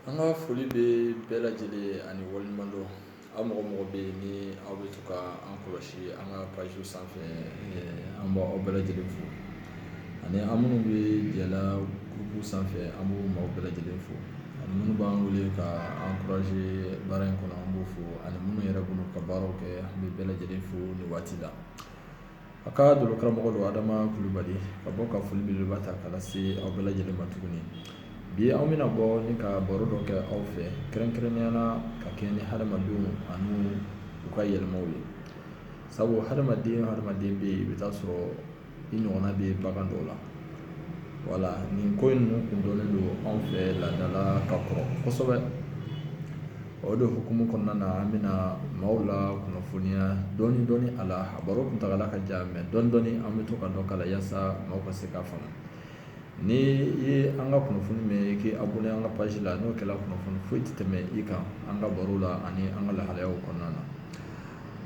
An ka foli bɛ bɛɛ lajɛlen ye ani waleɲumandɔn aw mɔgɔ mɔgɔ bɛ yen ni aw bɛ to ka an kɔlɔsi an ka pajiw sanfɛ an b' aw bɛɛ lajɛlen fo ani an minnu bɛ jɛla gurupu sanfɛ an b'o maaw bɛɛ lajɛlen fo ani minnu b'an wele ka an encourager baara in kɔnɔ an b'u fo ani minnu yɛrɛ bolo ka baaraw kɛ an bɛ bɛɛ lajɛlen fo nin waati la a ka dolo karamɔgɔ don adama kulubali ka bɔ ka foli belebeleba ta ka lase aw bɛɛ lajɛlen ma tuguni bi an bɛna bɔ ni ka baro dɔ kɛ aw fɛ kɛrɛnkɛrɛnya la ka kɛ ni hadamadenw ani u ka yɛlɛmaw ye sabu hadamaden hadamaden bɛ yen i bɛ t'a sɔrɔ i ɲɔgɔnna bɛ bagan dɔw la wala nin ko in ninnu kun dɔnnen don anw fɛ laada la ka kɔrɔ kosɛbɛ O don hukumu kɔnɔna na an bɛna maaw la kunnafoniya dɔɔnin dɔɔnin a la a baro kuntaala ka jan mais dɔɔnin dɔɔnin an bɛ to ka dɔ k'a la yaasa maaw ka se k'a faamu ni i ye an ka kunnafoni mɛn i k'i abonné an ka page la n'o kɛra kunnafoni foyi tɛ tɛmɛ i kan an ka baro la ani an ka lahalayaw kɔnɔna na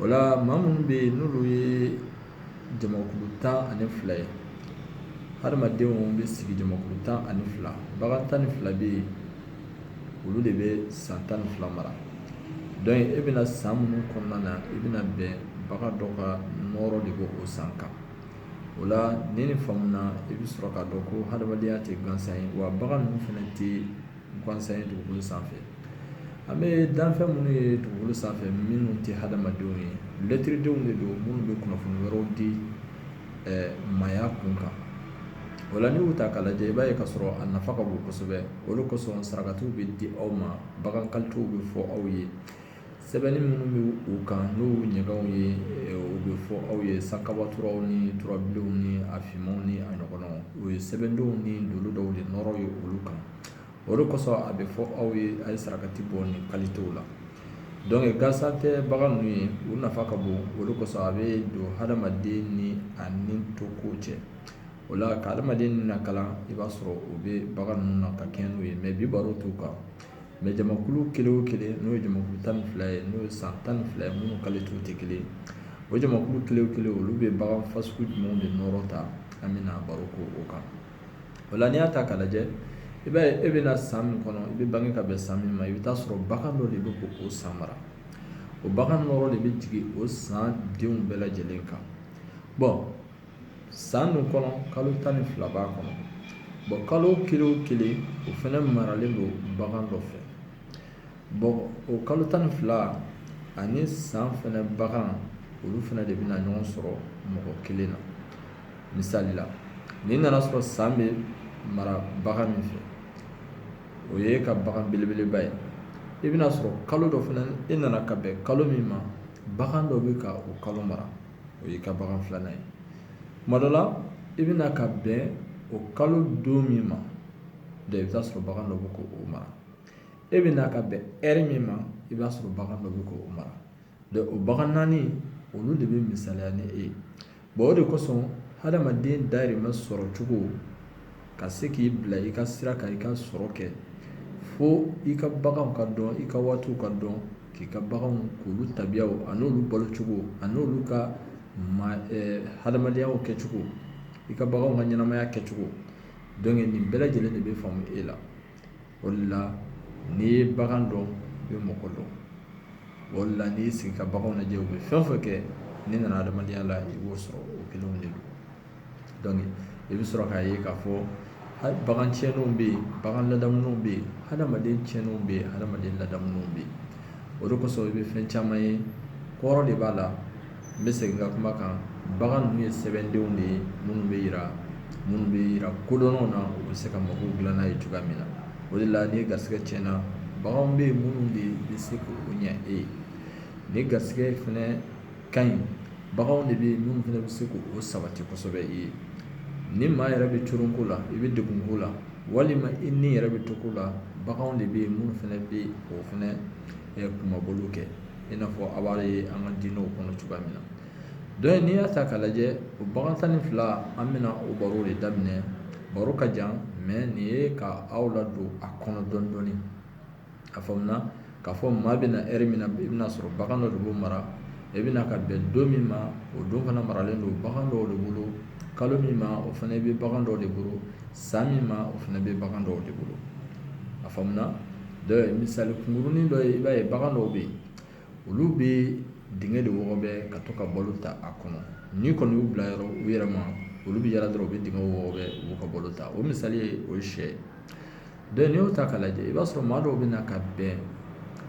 o la maa minnu bɛ yen n'olu ye jamakulu tan ani fila ye hadamadenw bɛ sigi jamakulu tan ani fila bagan tan ni fila bɛ yen olu de bɛ san tan ni fila mara donc e bɛna san minnu kɔnɔna na i bɛna bɛn bagan dɔ ka nɔɔrɔ de b'o san kan o la ni nin faamuna i bɛ sɔrɔ k'a dɔn ko hadamadenya tɛ gansan ye wa bagan ninnu fana tɛ gansan ye dugukolo sanfɛ an bɛ danfɛn minnu ye dugukolo sanfɛ minnu tɛ hadamadenw ye lɛtiridenw de don minnu bɛ kunnafoni wɛrɛw di maaya kun kan o la n'i y'u ta k'a lajɛ i b'a ye k'a sɔrɔ a nafa ka bon kosɛbɛ o de kosɔn sarakatiw bɛ di aw ma bagan kalitew bɛ fɔ aw ye sɛbɛnni minnu bɛ u kan n'u ɲɛgɛnw ye o bɛ fɔ aw ye sankabaturaw ni turabilenw ni a finmanw ni a ɲɔgɔnnaw o ye sɛbɛndenw ni dolo dɔw de nɔɔrɔ ye olu kan o de kosɔn a bɛ fɔ aw ye a ye sarakati bɔ nin kalitew la donc gansan tɛ bagan ninnu ye u nafa ka bon o de kosɔn a bɛ don hadamaden ni a ni to ko cɛ o la ka hadamaden lakalan i b'a sɔrɔ o bɛ bagan ninnu na ka kɛɲɛ n'o ye mais bi baro t'o kan mais jamakulu kelen o kelen n'o ye jamakulu tan ni fila ye n'o ye san tan ni fila ye minnu kalitew tɛ kelen ye o jamakulu kelen kelen olu bɛ bagan fasugu jumɛn de nɔɔrɔ ta an bɛna baro k'o kan o la n'i y'a ta k'a lajɛ i b'a ye e bɛna san min kɔnɔ i bɛ bange ka bɛn san min ma i bɛ t'a sɔrɔ bagan dɔ de bɛ k'o san mara o bagan nɔɔrɔ de bɛ jigin o san denw bɛɛ lajɛlen kan bon san min kɔnɔ kalo tan ni fila b'a kɔnɔ bon kalo kelen o kelen o fana maralen don bagan dɔ fɛ bon o kalo tan ni fila ani san fana bagan olu fana de bɛna ɲɔgɔn sɔrɔ mɔgɔ kelen na misali la n'i nana sɔrɔ san bɛ mara bagan min fɛ o y'i ka bagan belebeleba ye i bɛna sɔrɔ kalo dɔ fana e nana ka bɛn kalo min ma bagan dɔ bɛ ka o kalo mara o y'i ka bagan filanan ye tuma dɔ la i bɛna ka bɛn o kalo don min ma donc i bɛ taa sɔrɔ bagan dɔ bɛ k'o mara e bɛ na ka bɛn heure min ma i b'a sɔrɔ bagan dɔ bɛ k'o mara o bagan naani olu de bɛ misaliya ni e ye Bon o de kosɔn hadamaden dahirimɛ sɔrɔ cogo ka se k'i bila i ka sira kan i ka sɔrɔ kɛ fo i ka baganw ka dɔn i ka waatiw ka dɔn k'i ka baganw k'olu tabiyaw ani olu balocogo ani olu ka hadamadenyaw kɛcogo i ka baganw ka ɲɛnamaya kɛcogo donc nin bɛɛ lajɛlen de bɛ faamu e la o la n'i ye bagan dɔn i bɛ mɔgɔ dɔn o la n'i y'i sigi ka baganw lajɛ u bɛ fɛn o fɛn kɛ n'i nana hadamadenya la i b'o sɔrɔ o kelenw de don i bɛ sɔrɔ k'a ye k'a fɔ hali bagan tiɲɛnenw bɛ yen bagan ladamulenw bɛ yen hadamaden tiɲɛnenw bɛ yen hadamaden ladamulenw bɛ yen o de kosɔn i bɛ fɛn caman ye kɔrɔ de b'a la n bɛ segin n ka kuma kan bagan ninnu ye sɛbɛndenw de ye minnu bɛ yira minnu bɛ yira kodɔnnaw na u bɛ se ka mago dilan n'a ye cogoya min na o de la ni garisɛgɛ tiɲɛna baganw bɛ yen minnu de bɛ se k'o ɲɛ e ye ni garisɛgɛ fana ka ɲi baganw de bɛ yen minnu fana bɛ se k'o sabati kosɛbɛ i ye ni maa yɛrɛ bɛ coronko la i bɛ degunko la walima i ni yɛrɛ bɛ to ko la baganw de bɛ yen minnu fana bɛ o fana kunmabɔli kɛ i n'a fɔ a b'a ye an ka diinɛw kɔnɔ cogoya min na donc n'i y'a ta k'a lajɛ o bagan tan ni fila an bɛna o baro de daminɛ baro ka jan mais nin ye ka aw ladon a kɔnɔ dɔɔni dɔɔni a faamuna k'a fɔ maa bɛ na heure min na i bɛna sɔrɔ bagan dɔ de b'o mara i bɛ na ka bɛn don min ma o don fana maralen don bagan dɔw de bolo kalo min ma o fana bɛ bagan dɔw de bolo san min ma o fana bɛ bagan dɔw de bolo a faamuna ye misali kungurunin dɔ ye i b'a ye bagan dɔw bɛ yen olu bɛ dingɛ de wɔgɔbɛ ka to ka balo ta a kɔnɔ n'i kɔni y'u bila yɔrɔ u yɛrɛ ma olu bɛ yaala dɔrɔn u bɛ dingɛ wɔgɔbɛ u b'u ka balo ta o misali ye o syɛ donc n'i y'o ta k'a lajɛ i b'a sɔrɔ maa dɔw bɛ na ka bɛn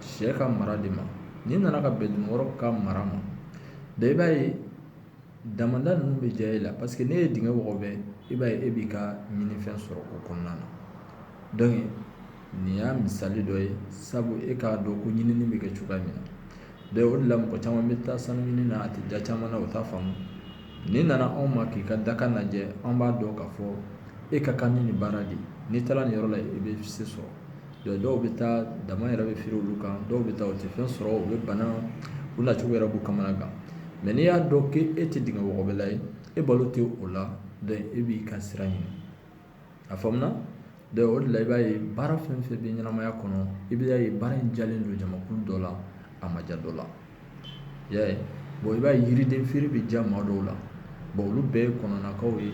syɛ ka mara de ma n'i nana ka bɛn dunukɔrɔ ka mara ma donc i b'a ye Damanda ninnu bɛ diya e la parce que n'e ye dingɛ wɔgɔbɛ i b'a ye e b'i ka ɲinifɛn sɔrɔ o kɔnɔna na donc nin y'a misali dɔ ye sabu e k'a dɔn ko ɲinini bɛ kɛ cogoya min na o de la mɔgɔ caman bɛ taa sanu ɲini na a tɛ diya caman na u t'a faamu n'i nana anw ma k'i ka dakan lajɛ an b'a dɔn k'a fɔ e ka kan ni nin baara de n'i taara nin yɔrɔ la i bɛ se sɔrɔ Don dɔw bɛ taa dama yɛrɛ bɛ firi olu kan dɔw bɛ taa u tɛ fɛn sɔrɔ u bɛ bana u nacogo yɛrɛ b'u kamana gan mɛ n'i y'a dɔn k' e tɛ dingɛ wɔgɔbɛla ye e balo tɛ o la dɔn e b'i ka sira ɲini a faamuna dɔn o de la i b'a ye baara fɛn fɛn bɛ ɲɛnamaya kɔnɔ i b'a ye baara in diyalen don jamakulu dɔ la a ma diya dɔ la i y'a ye i b'a ye yiriden feere bɛ diya maa dɔw la olu bɛɛ ye kɔnɔnakaw ye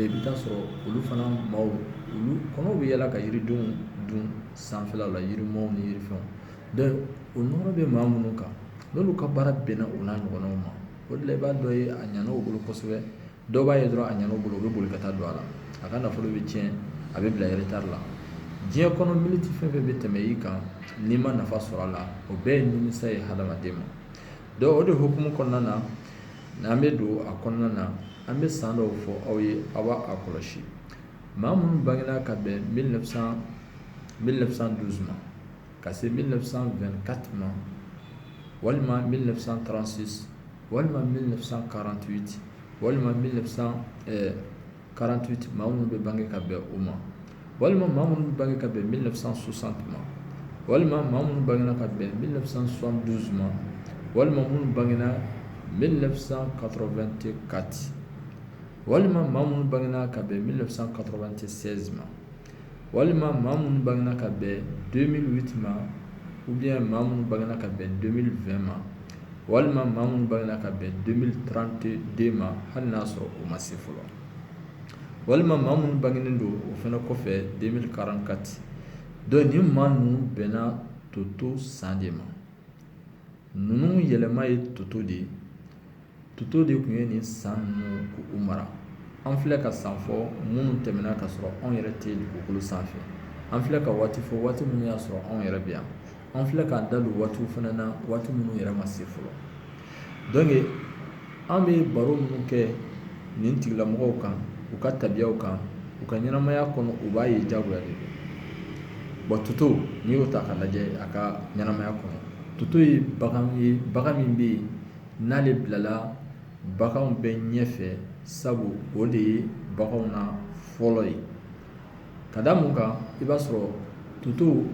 i bɛ t'a sɔrɔ olu fana maaw olu kɔnɔw bɛ yala ka yiridenw dun sanfɛla la yirimaw ni yirifɛnw o nɔɔrɔ bɛ maa minnu kan n'olu ka baara bɛnna o n'a ɲɔgɔnnaw ma o de la i b'a dɔ ye a ɲana u bolo kosɛbɛ dɔw b'a ye dɔrɔn a ɲana u bolo u bɛ boli ka taa don a la a ka nafolo bɛ tiɲɛ a bɛ bila retard la diɲɛ kɔnɔ miniti fɛn fɛn bɛ tɛmɛ i kan n'i ma nafa sɔrɔ a la o bɛɛ ye nimisa ye hadamaden ma dɔn o de hukumu kɔnɔna na n'an bɛ don a kɔnɔna na an bɛ san dɔw fɔ aw ye aw b'a kɔlɔsi maa minnu bangera ka bɛn 1912 ma ka se 1924 ma walima 1936 walima min fisa karanti walima min fisa karanti maa minnu bɛ bange ka bɛn o ma walima maa minnu bange ka bɛn min fisa susan ma walima maa minnu bangena ka bɛn min fisa susan duuru suma walima minnu bangena min fisa kato2te kati walima maa minnu bangegina ka bɛn min fisa kato2te sɛji ma walima maa minnu bangena ka bɛn 2008 ma ou bien maa minnu bangena ka bɛn 2020 ma walima maa minnu bangena ka bɛn 2032 ma hali n'a sɔrɔ o ma se fɔlɔ walima maa minnu bangenen don o fana kɔfɛ 2044 dɔn ni maa ninnu bɛnna toto san de ma ninnu yɛlɛma ye toto de ye toto de tun ye nin san ninnu k'u mara an filɛ ka san fɔ minnu tɛmɛna ka sɔrɔ anw yɛrɛ tɛ dugukolo sanfɛ an filɛ ka waati fɔ waati minnu y'a sɔrɔ anw yɛrɛ bɛ yan an filɛ k'an da don waatiw fana na waati minnu yɛrɛ ma se fɔlɔ an bɛ baro minnu kɛ nin tigilamɔgɔw kan u ka tabiyaw kan u ka ɲɛnamaya kɔnɔ u b'a ye jagoya de don wa toto n'i y'o ta k'a lajɛ a ka ɲɛnamaya kɔnɔ toto ye bagan ye bagan min bɛ yen n'ale bilala baganw bɛɛ ɲɛfɛ sabu o de ye baganw na fɔlɔ ye ka da mun kan i b'a sɔrɔ toto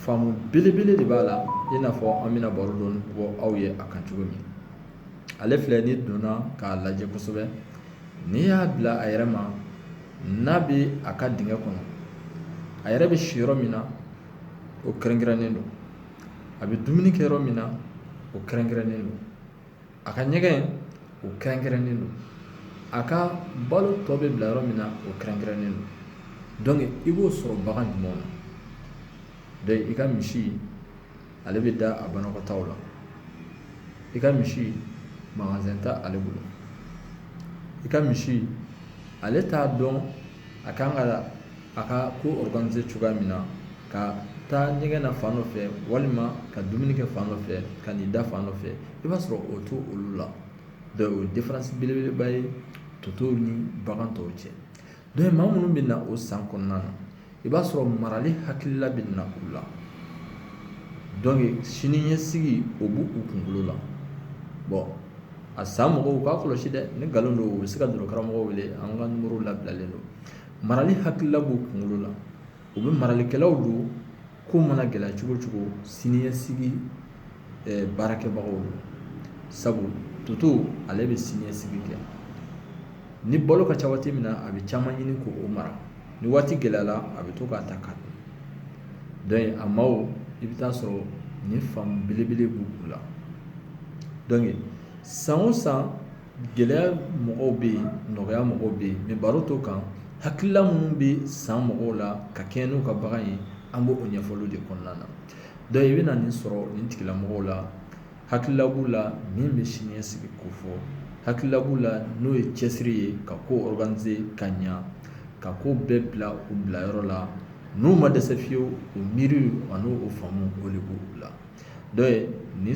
faamu belebele de b'a la i n'a fɔ an bɛna baro dɔɔni bɔ aw ye a kan cogo min ale filɛ n'i donna k'a lajɛ kosɛbɛ n'i y'a bila a yɛrɛ ma n'a bɛ a ka dingɛ kɔnɔ a yɛrɛ bɛ si yɔrɔ min na o kɛrɛnkɛrɛnnen don a bɛ dumuni kɛ yɔrɔ min na o kɛrɛnkɛrɛnnen don a ka ɲɛgɛn o kɛrɛnkɛrɛnnen don a ka balo tɔ bɛ bila yɔrɔ min na o kɛrɛnkɛrɛnnen don donc i b'o sɔrɔ bagan jumɛnw na donc i ka misi ale bɛ da a banakɔtaw la i ka misi magasin tɛ ale bolo i ka misi ale t'a dɔn a kan ka a ka ko organiser cogoya min na ka taa ɲɛgɛn na fan dɔ fɛ walima ka dumuni kɛ fan dɔ fɛ ka n'i da fan dɔ fɛ i b'a sɔrɔ o t'olu la donc o ye différence belebeleba ye totow ni bagan tɔw cɛ donc maa minnu bɛ na o san kɔnɔna na i b'a sɔrɔ marali hakilila bɛ na u la donc sini ɲɛsigi o b'u kunkolo la bɔn a san mɔgɔw k'a kɔlɔsi dɛ ni nkalon don u bɛ se ka dɔrɔ karamɔgɔ wele an ka numéro labilalen don marali hakilila b'u kunkolo la u bɛɛ maralikɛlaw don ko mana gɛlɛya cogo o cogo siniɲɛsigi baarakɛbagaw don sabu toto ale bɛ siniɲɛsigi kɛ ni balo ka ca waati min na a bɛ caman ɲini k'o mara ni waati gɛlɛyara a bɛ to k'a ta k'a dun donc a maaw i bɛ taa sɔrɔ nin faamu belebele b'u la dɔnke san o san gɛlɛya mɔgɔw bɛ yen nɔgɔya mɔgɔw bɛ yen mɛ baro t'o kan hakilila minnu bɛ san mɔgɔw la ka kɛɲɛ n'u ka bagan ye an b'o ɲɛfɔli de kɔnɔna na dɔnku i bɛ na nin sɔrɔ nin tigilamɔgɔw la hakilila b'u la min bɛ siniɲɛsigi kofɔ, hakilila b'u la n'o ye cɛsiri ye ka ko organiser ka ɲa, ka ko bɛɛ bila u bila yɔrɔ la, n'u ma dɛsɛ fiyewu o miiriw ani o faamu o de b'u la donc nin